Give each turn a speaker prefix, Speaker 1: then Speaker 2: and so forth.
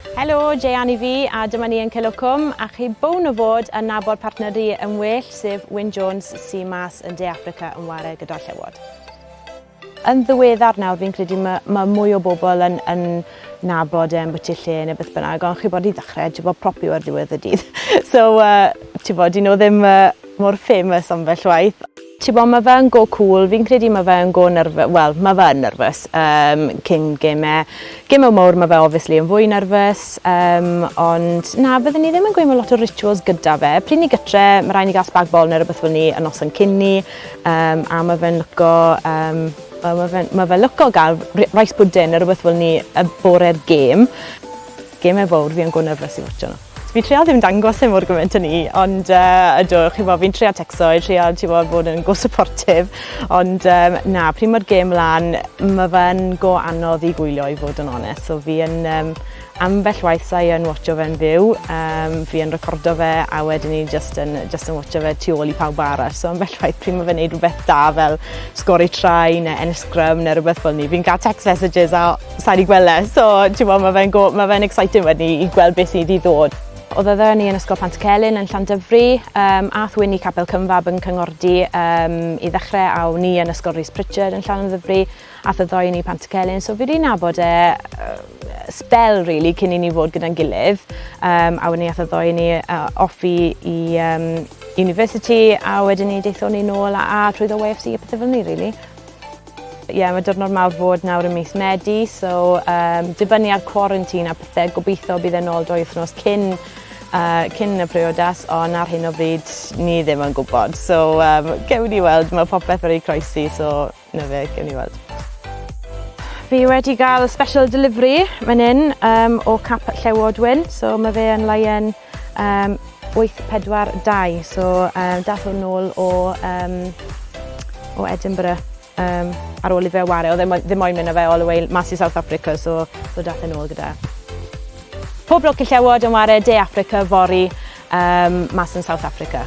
Speaker 1: Helo, Jeanne i fi a dyma ni yn Celwcwm a chi bown o fod yn nabod partner ry yn well sef Wyn Jones sy mas yn De Affrica yn ware gyda'r Llewod. Yn ddiweddar nawr fi'n credu mae, mae mwy o bobl yn, yn nabod e yn bwyty lle neu beth bynnag ond chi'n bod i ddechrau ti'n bod propi o'r ddiwedd y dydd so uh, ti'n bod dyn nhw ddim uh, mor famous ambell waith. Tibod mae fe yn go cŵl, fi'n credu mae fe yn go nyrfys, wel mae fe yn nyrfys um, cyn gemau. Gemau mawr mae fe obviously yn fwy nyrfys, um, ond na, byddwn ni ddim yn gweud mae lot o rituals gyda fe. Pryd ni gytre, mae rhaid ni gael spag bol neu rhywbeth fel ni yn noson cyn ni, um, a mae fe'n lyco, um, well, mae fe, ma fe lyco gael rice pudding neu rhywbeth fel ni y bore'r gêm. Gemau fawr, fi yn go nyrfys i watcho nhw. Fi'n trio ddim dangos e mor gymaint â 'ny ond yy ydw chi'bo' fi'n trio tecso i trio t'bo' bod yn go supportive ond yym na pryd ma'r gêm mlan ma' fe'n go anodd i gwylio i fod yn onest so fi yn yym ambell waith sa'i yn watsio fe'n fyw yym fi yn recordo fe a wedyn i jyst yn jyst yn watsio fe tu ôl i pawb arall so ambell waith pryd ma' fe'n neud rwbeth da fel sgori try ne' ennill sgrym ne' rwbeth fel 'ny fi'n ga'l text messages a Sai 'di gwel' e so t'mod ma' fe'n go- ma' fe'n exciting wedyn i i gweld beth sydd i ddod. Odd ni yn Ysgol Pantycelyn yn Llandyfri yym a'th Wyn i Capel Cynfab yn Cyngordy yym i ddechre a o'n i yn Ysgol Rees Pritchard yn Llanymddyfri a'th y ddou o ni i Pantycelyn so fi 'di nabod e yy sbel rili cyn i ni fod gyda'n gilydd yym a wedyn ni a'th y ddou o ni yy off i i yym University a wedyn ni daethon ni nôl a a trwyddo YFC a pethe fel 'ny rili. Ie, mae diwrnod mawr fod nawr ym mis Medi, so um, dibynnu ar quarantine a pethau, gobeithio bydd e'n ôl dwy wythnos cyn, uh, cyn y priodas, ond ar hyn o bryd ni ddim yn gwybod. So, um, gewn ni weld, mae popeth wedi croesi, so na fe, gewn ni weld. Fi wedi cael special delivery fan hyn um, o cap llewod wyn, so mae fe yn laien Um, 842, so um, dath hwn nôl o, um, o Edinburgh um, ar ôl i fe wario. Oedd e ddim moyn mynd â fe all the way mas i South Africa, so, so dath e'n ôl gyda. Pob lwc i llewod yn wario De Africa fori um, mas yn South Africa.